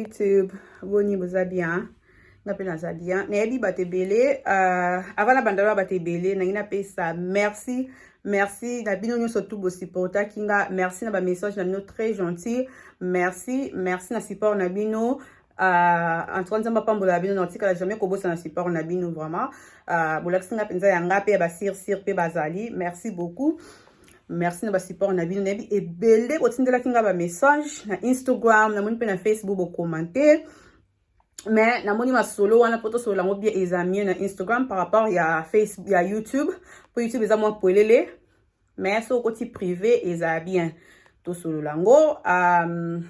YouTube boni boza bien nga mpe naza bien nayebi bato ebele euh, avant na bandalo ya bato ebele nangi napesa merci merci na bino nyonso tu bosupportaki nga merci na bamessage na bino très gentil merci merci na support na bino Uh, en tout cas nzambe apambola bino na otikala jamais kobosana support na bino vraiment uh, bolakisi nga mpenza ya nga mpe ya basirsir mpe bazali merci beaucoup merci na basupport na bino nayebi ebele botindelaki nga bamessage na instagram namoni mpe na facebook bokomante mais namoni masolo wana mpo tosolola yango bien eza mieux na instagram par rapport ya facebook ya youtube mpo youtube eza mwa polele mais soki okoti prive eza bien tosolola yango um,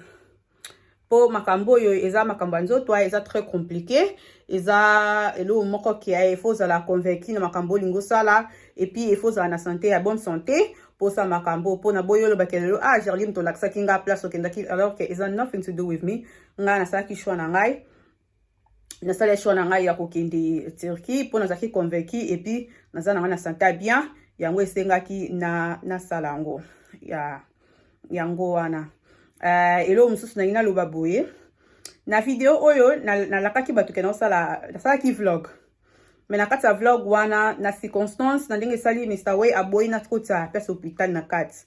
mpo makambo oyo eza makambo ya nzoto ah, eza très compliqué eza eloko moko kia ah, efo ozala convaincu na makambo olingi osala epuis efo ozala na sante ya bonne sante mposa makambo mpo na boyi olobaki lelo ah gerline tolakisaki ngai place okendaki alors que eza nothing to do with me ngai nasalaki choix na ngai nasala choix na ngai ya kokende Turquie mpo nazalaki convaincu epuis naza na ngai na santa bien yango esengaki na nasala yango ya yango wana uh, eloko mosusu nangi naloba boye na video oyo nalakaki na bato ke naosala nasalaki vlog me na kati ya vlog wana na circonstance na ndenge esali mr way aboyi nakotisa ya place hôpital na kati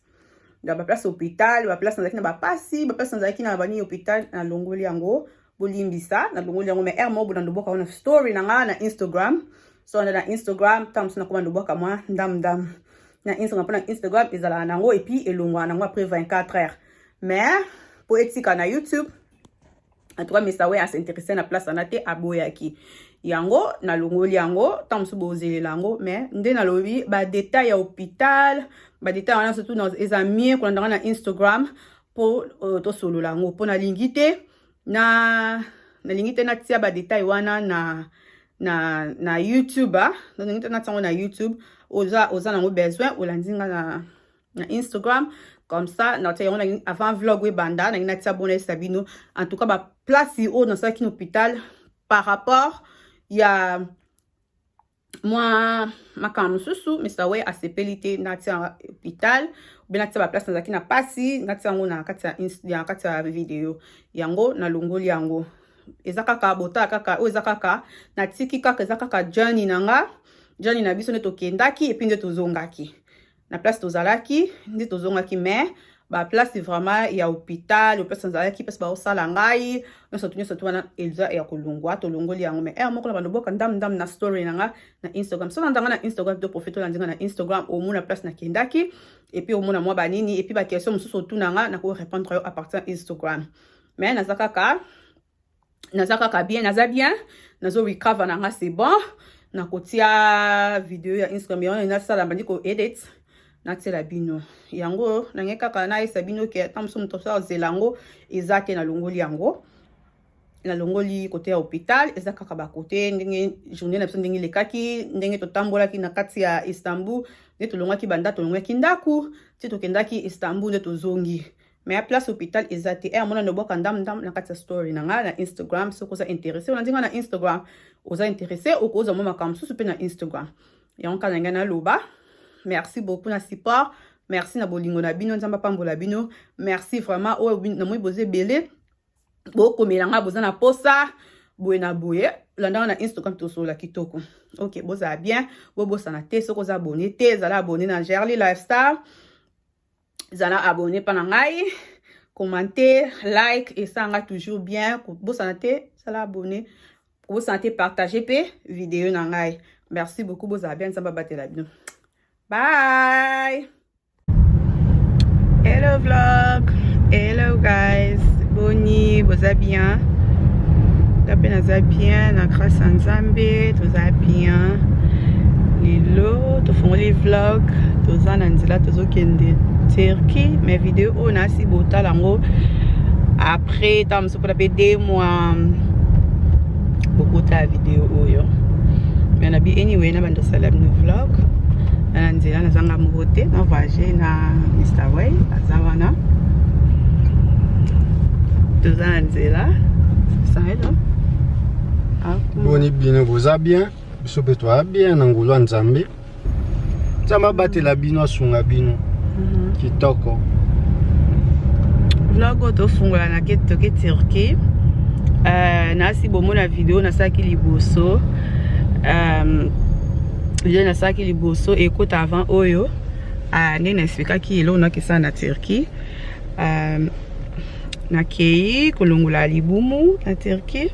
na baplace hôpital baplace nazalaki na bapasi baplace nazalaki na bani hôpital nalongoli yango bolimbisa nalongoli yango me aire mobo na ndobwaka wana story na ngai na instagram so wana na instagram ntango mosusu nakoma ndobwaka mwa ndamndam na instagram mpo na instagram ezalaka na yango epuis elongwaka na yango après 24 heures mais mpo etika na youtube en tout cas Mr. Way a s'intéresser na place wana te aboyaki yango nalongoli yango ntango mosusu bozelela yango mais nde nalobi badetail ya hôpital badetail wana surtout eza mie kolandanga na instagram mpo euh, tosolola yango mpo nalingi te na nalingi te natia badetail wana na na na youtube ah. nalingi te natia yango na youtube oza oza nango besoin olandi nga na na Instagram comme ça na tia yango avant vlog we banda na ngina tia bona esa bino en tout cas ba place oyo na salaki na hôpital par rapport ya mwa makambo mosusu mr we asepeli te natia hôpital obe natia baplace nazalaki na mpasi natia yango na kati ya video yango nalongoli yango eza kaka botala kaka oyo eza kaka natiki kaka eza kaka jani na nga jani na biso nde tokendaki epuis nde tozongaki na place tozalaki nde tozongaki mais baplace vraiment ya hôpital baplace nazalaki place baosala ngai nyonso tu nyonso tu wana eza ya kolongwa tolongoli yango mai ere moko na baloboka ndambu ndambu na story na nga na instagram so nanda nga na instagram to profite olandi nga na instagram omona place nakendaki epuis omona mwa banini epuis baquestion mosusu otuna nga nakorepondre yo apartir ya instagram mai naza kaka naza kaka bien naza bien nazo recover na nga c'est bon nakotia video ya instagram yango nasala bandi ko edit natiela bino yango nange kaka nayesa bino ke ata mosusu moto asala zela yango eza te nalongoli yango nalongoli kote ya hôpital eza kaka bakote ndenge journée na biso ndenge elekaki ndenge totambolaki na kati ya istanbul nde tolongaki banda tolongaki ndako ti tokendaki istanbul nde tozongi mais place hôpital eza te e amona nobwaka ndam ndam na kati ya story na ngai na instagram soki oza interesse olandi ngai na instagram oza interesse okozwa mwa makambo mosusu mpe na instagram yango kaka na ngai naloba merci beaucoup na support merci na bolingo na bino nzambe apambola bino merci vraiment oyo namoni boza ebele bokomela ngai boza na posa boye na boye landa wana na instagram tosolola kitoko ok bozala bien bobosana te soki oza abone te ezala abone na gerly lifestyle zala abonné mpa na ngai commenter like esanga toujours bien kobosana te zala abonné kobosana te partage mpe video na ngai merci beaucoup bozala bien nzambe abatela bino bye hello vlog hello guys boni boza bien nga mpe naza bien na grâce ya nzambe toza bien lelo tofungoli vlog toza na nzela tozo kende turquie mais video oyo nasi botala yango après ntango mosusu mpona mpe de mois bokotala video oyo mais na bi anyway na bando sala bino vlog na na nzela nazanga moko te na voyage na mr way aza wana toza na nzela saelo boni bino boza bien biso mpe toa bien na ngulu ya nzambe nzambe abatela bino asunga bino mhm. kitoko vlog oyo tofungola na ke toke turquie euh, nasi bomona video nasalaki liboso euh, video nasalaki liboso ekota avant oyo euh, nde na explikaki eloko nakesana na turquie nakei kolongola libumu na turquie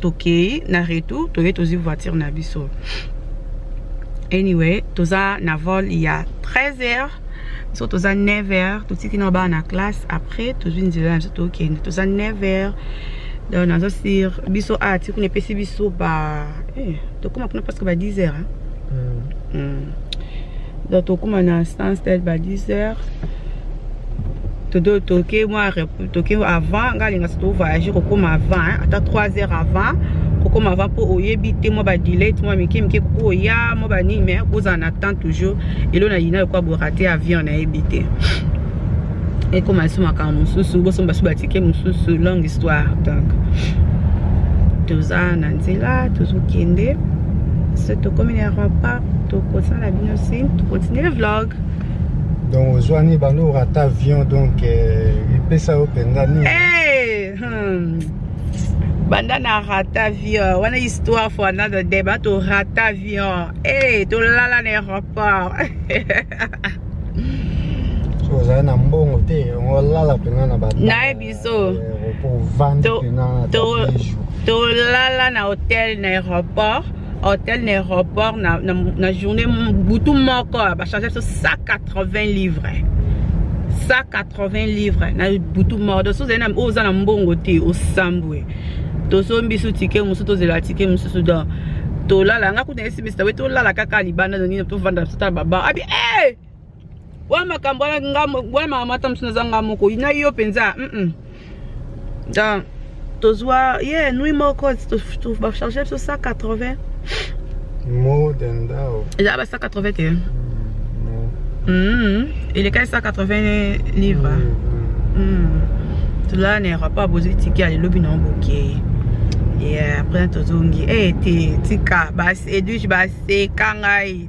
tokei na retour toye tozwi voiture na biso anyway toza na vol ya 13 heures biso toza 9 heures totiki na bana na classe après tozwi nzela na biso tokende toza 9 heures donc naza sur biso a ah, ti kuna epesi biso ba eh, tokóma kuna presque ba 10 heures hein? mm. Mm. donc tokuma na instance tel ba 10 heures toke mwa toke avant ngai alingaka tovoyage kokoma avant ata 3 heures avant kokoma avant mpo oyebi te mwa badilete mwa mike mike kokoya mwa banini mai kozala na temps toujours elo na yina lokola borate avion nayebi te ekoma liso makambo mosusu bosomba so batike mosusu longue histoire donc toza na nzela tozokende se tokomi na rempart tokosala bino signe tocontinue vlog donc ozwani bando orata avion donc euh, epesa yo mpenza nini eh, hmm. banda na rata avion wana histoire for another day bato rata avion e eh, tolala na aéroport ozali na mbongo te olala mpenza na bato naye biso eh, tolala na hotel na aéroport hotel na aéroport na, na, na journée butu moko bachange biso 180 livres 180 livres na butu moko donc soki ozali oyo oza na mbongo te osambwe tozombi biso tike mosusu tozela tike mosusu donc tolala nga kuta esimisi tawe tolala kaka libanda nonino tovanda biso tala baba abi hey! Eh! oyo makambo wana nga bwana mama mata mosu naza nga moko na yo mpenza mm -mm. da tozwa ye yeah, nui moko bacharge biso 180 eza ba 180 te mm. elekaki 180 livre tozala na aéroport bozwi tiki ya lelobi nango bokei après tozongi e te tika edwige baseka ngai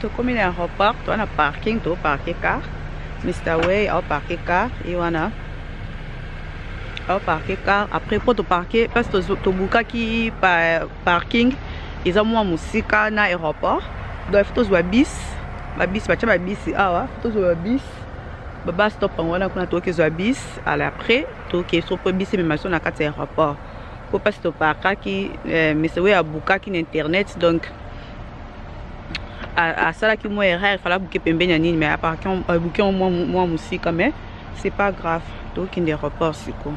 tokomi na aéroport toa na parking to parke car mr way ao parke car ye wana ao parke car après mpo toparke place tobukaki parking eza mwa mosika na aéroport donc fo tozwa bis babis batya babisi awa fo tozwa babis babas topango wana kuna tookizwa bis ala après tookei so mpo bisi emema so na kati ya aéroport po mpasi toparkaki eh, mese oyo abukaki na internet donc asalaki mwa erreur fala abuke pembeni ya nini mais aparki abuki yango mwa mosika mais c'est pas grave tokokende aéroport sikoyo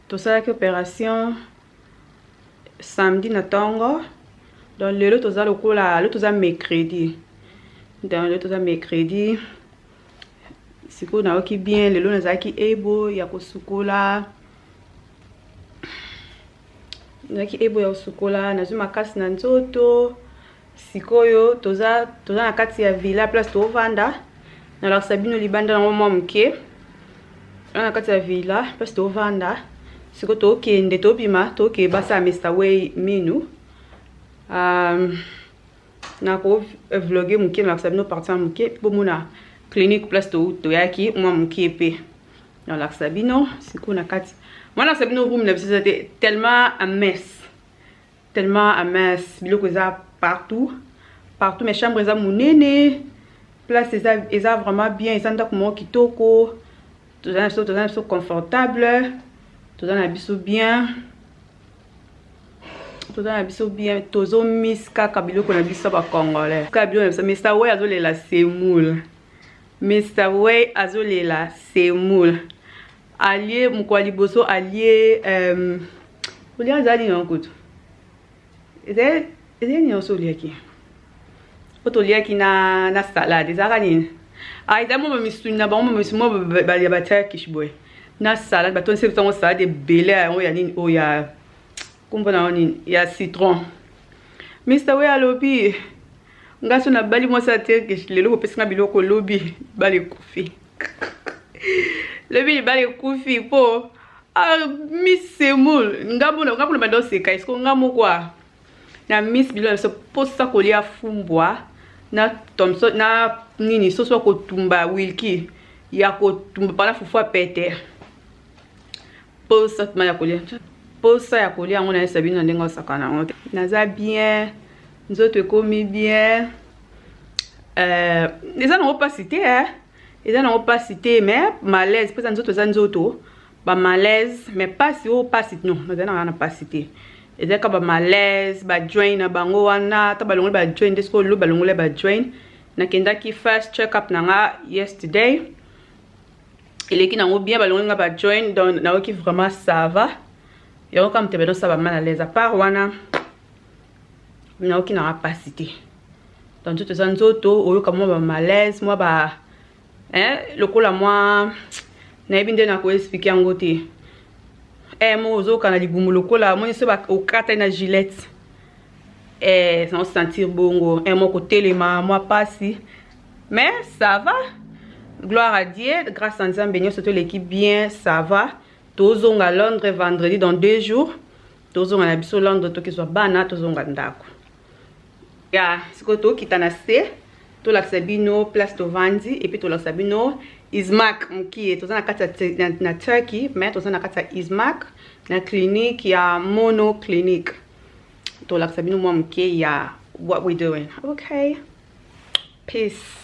tosalaki operation samedi na ntongo donc lelo toza lokola lelo toza mercredi donc lelo toza mercredi sikoyo nayoki bien lelo nazalaki ebo ya kosukola nazalaki ebo ya kosukola nazwi makasi na nzoto sikoyo toza toza na kati ya villa place tovanda nalakisa bino libanda yango mwa moke wana na kati ya villa place tovanda siko tokende tobima toke basala mr way minu um, nako vloge moke nalakisa bino parti ya moke bomona clinique place toyaki mwa moke mpe nalakisa bino sikoyo na kati mwana nalakisa bino room na biso eza te tellement ames tellement à mince biloko eza partout partout mais chambre eza munene place eza eza vraiment bien eza ndako moko kitoko toza na biso toza na biso confortable toza na biso bien toza na biso bien tozomis kaka biloko na biso bacongolais kaka biloko na biso mr way azolela semoule mr way azolela semoule alie mokwa liboso alie euh, olia azali nini yango kutu ezali nini yanso oliaki oyo toliaki na, na salade ezalaka nini ah, ezali mwa bamisuni na bango bamisuni mwa ya baturkish boye na salade batondisi bisango salade ebele yango ya nini oyo ya kombo na yango nini ya citron mister oyo alobi nga so nabali mwasi ya turkish lelo kopesi nga biloko lobi bali kofi lobi libala ekufi mpo ah, miss semoul nga mona nga kuna banda oseka esiko nga moko a na miss bilo na biso mposa kolia fumbwa na thomson na nini soso ya kotumba wilki ya kotumba pana fufu ya pete mposa tuma ya kolia mposa ya kolia yango nayesa bino na ndenge osakana yango te naza bien nzoto ekomi bien euh, eza nango mpasi te eh? eza nango mpasi te mais malaise mpo eza nzoto eza nzoto bamalaise mais mpasi oyo oh, mpasi no nazali na wana mpasi te eza kaka bamalaise bajoin na bango wana ata balongoli bajoin nde soki olo balongoli bajoin nakendaki first check up na nga yesterday eleki nango bien balongoli nga bajoin donc nayoki vraiment sava yango kaka moto ebedosaba mal alaise apart wana nayoki nanga mpasi te to nzoto eza nzoto oyoka mwa bamalaise mwa ba eh, lokola mwa nayebi nde nakoexplike yango te eh, moko ozoyoka na libumu lokola omoni so okatani na gilete eh, na osentir bongo eh, moko telema mwa mpasi mais ça va gloire à dieu grâce à nzambe nyonso toleki bien ça va tozonga londres vendredi dans deux jours tozonga na biso lando tokezwa bana tozonga ndako ya sikoyo tokita na se tolakisa bino place tovandi epuis tolakisa bino ismak mokie toza na kati ya na turkey mais toza na kati ya ismak na clinique ya mono clinique tolakisa bino mwa mokie ya what we doing okay peace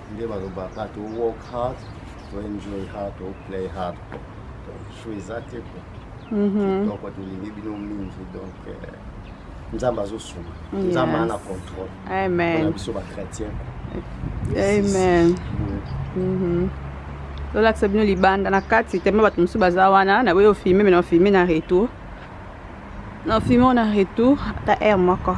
nde balobaka to work hard to enjoy hard to play hard so eza te ko kitoko mhm. tolingi bino mingi donc euh, nzambe azosunga nzambe ana contrôle na biso bachrétien amen mhm. lolakisa bino libanda na kati teme bato mosusu baza wana naboyi ofilme me na ofilme na retour na ofilme na retour ata aire moko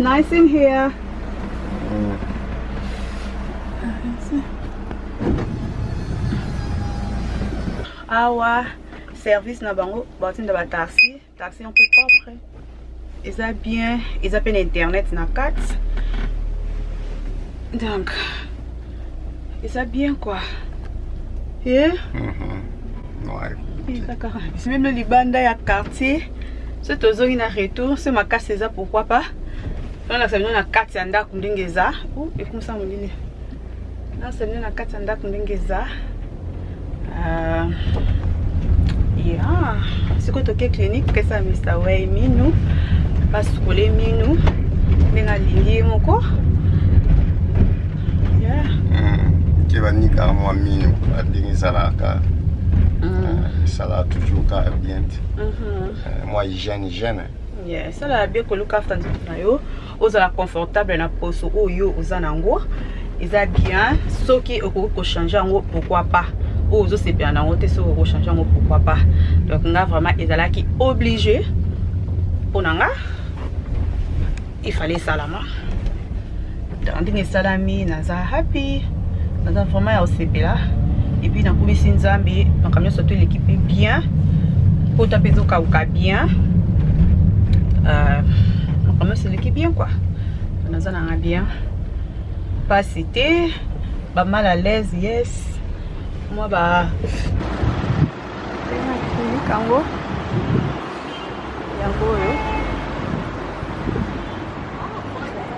nice in here. awa service na bango batinda bataxi taxi un peu propre eza bien eza pe na internet na kati donc eza bien quoi ye yeah? mm -hmm. ouais. biso meme libanda ya quartier so tozongi na retour so makasi eza pourquoi pas tolakisa bino na kati ya ndako ndenge eza ekumisa molili Nasa nde na kati ya ndako ndenge eza ah, ya sikoyo toke clinique pesa mr way minu basukole minu nde nalingi ye moko ke banikaka mwa minu ndenge ezalaka esala mm. ah, toujours kaka bien te mhm. eh, mwa hygiène hygiène esala eh, bien koluka afta nzoto na yo ozala confortable na poso oyo oza na yango eza bien soki okoki kochange yango pourquoi pas oyo ozosepela na yango te soki okoki kochange yango pourquoi pas donc nga vraiment ezalaki oblige mpo na nga ifale esalama ndenge esalami naza happy naza vraiment ya kosepela epuis nakumisi nzambe makambo nyonso to eleki mpe bien mpota mpe ezokauka bien euh, makambo nyonso eleki bien kua naza nanga bien mpasi te bamal à l'aise yes mwa ba yango yango oyo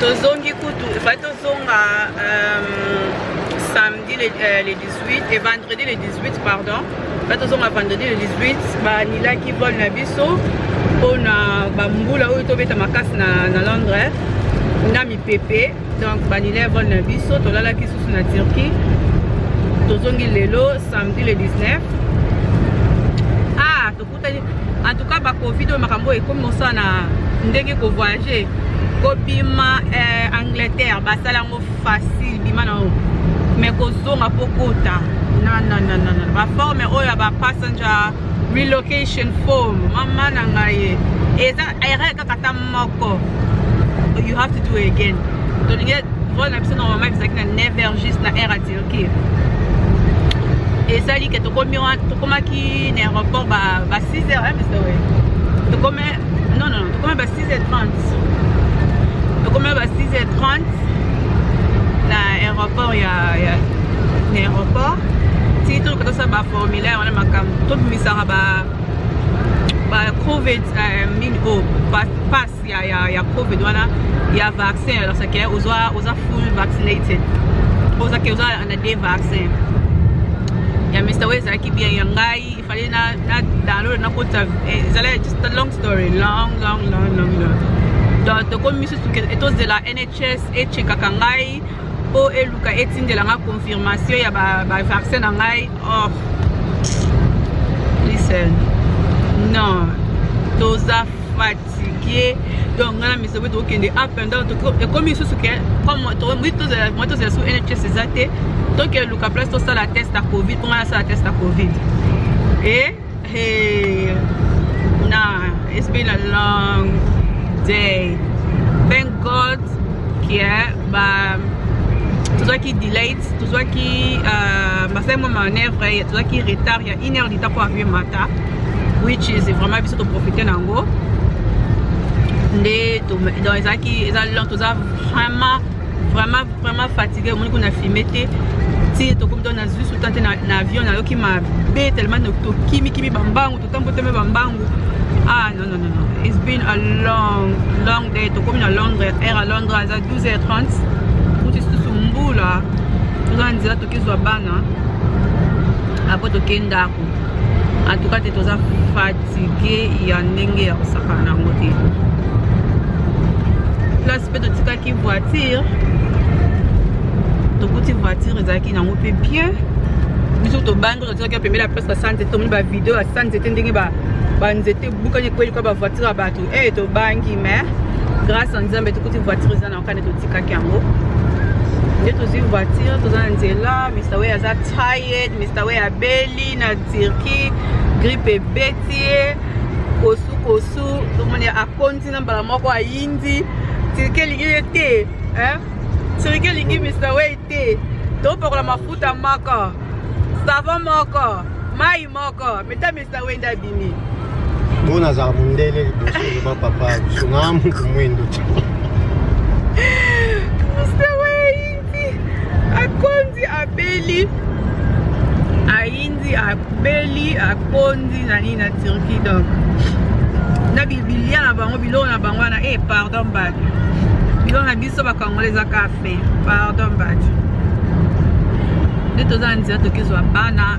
tozongi kutu epai tozonga euh, samedi le, euh, le 18 et vendredi le 18 pardon epai tozonga vendredi le 18 banilaki vol na biso mpona bambula oyo tobeta makasi na, na londres na mipepe donc banila vol na biso tolalaki susu na turquie tozongi lelo samedi le 19 En tout cas ba Covid oyo makambo oyo ekomi mosala na ndenge ko voyager kobima eh, Angleterre basala yango facile bima na mais kozonga mpo kota nanananana baforme oyo ya bapassenger relocation form mama na ngai eza erreur kaka ta moko you have to do again tolingi vol na biso normalement ezalaki na 9 heures juste na air okay. ezali ke tokomi wana tokomaki na aéroport ba, ba 6 heures hein, mr we tokomi non non non tokomi ba 6 heures 30 tokomi ba 6 heures 30 na aéroport ya, ya na aéroport ti toluka tosala ba formulaire wana makambo tobimisaka ba ba covid euh, mine o passe ya ya ya covid wana ya vaccin alors ça que oza oza full vaccinated oza que oza na deux vaccins ya Mr. Way ezalaki bien ya ngai ifale na na download na kota eh, ezala just a long story long long long long long donc tokomi misusu etozela NHS echekaka ngai mpo eluka etindela ngai confirmation ya bavaccin na ngai or oh. listen non toza fat fatigué donc nga na miso boye tokokende up and down ekomi lisusu ke moi tozala su nhs eza te toke luka place tosala test ya covid mpo nga nasala test ya covid e na it's been a long day thank god ke ba tozwaki delate tozwaki euh, basali mwa manœuvre tozwaki retard ya une heure du temps mpo avion mata which is vraiment biso toprofite na yango nde donc ezalaki eza lent toza vraiment vraiment vraiment fatigue omoni kuna filme te ti tokomi to nazwi suta te na avion nayoki mabe tellement tokimikimi bambangu totamboteme bambangu ah non non non it's been a long long day tokomi na londres air à londres aza 12 h 30 mutu lisusu mbula toza na nzela tokizwa bana apres tokei ndako en tout cas te toza fatigue ya ndenge ya kosakana na yango te place mpe totikaki voiture tokuti voiture ezalaki na yango mpe bien biso tobangi totikaki ya pembele ya place ya sanzete tomoni bavideo ya sanzete ndenge banzete bukani ekweli kwa bavoiture ya bato e tobangi mais grâce ya nzambe tokuti voiture eza nayoka nde totikaki yango nde tozwi voiture toza na nzela mr way aza tired mr way abeli na turquie grippe ebeti ye kosu kosu tomoni akonzi na mbala moko ayindi turquie elingi ye te turquie elingi mr way te topakola mafuta moko savon moko mai moko metami Sa wenda abimi. Mpo nazala mondele liboso oloba papa biso na moto mwendo Mr. Waindi akondi abeli aindi abeli akondi na nini na Turquie donc na bibilia na bango biloko na bango wana eh pardon mbadi biloko na biso bakangole ezaka fin pardon mbadi nde toza na nzela tokezwa bana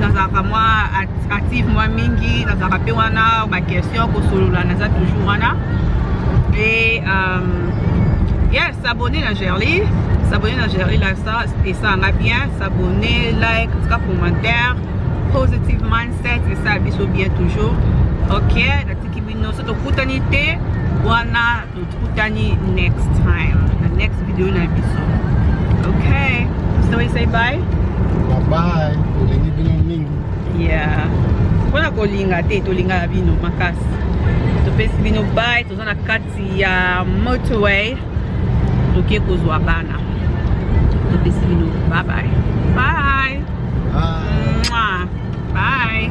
nazalaka mwa active mwa mingi nazalaka mpe wana baquestion kosolola naza toujours wana e um, yes abonne na gerli s'abonner na Jerry Lifestyle et ça va bien s'abonner like en tout cas commentaire positive mindset et ça biso bien toujours ok natiki bino soki tokutani te wana Tukutani next time. The next video na biso. Okay. So we say bye. Bye bye. Tolingi bino mingi. Yeah. Pona kolinga te tolinga na bino makasi. Topesi bino bye. Toza na kati ya motorway. Toke kozwa bana. Topesi bino bye bye. Bye. Bye. Bye.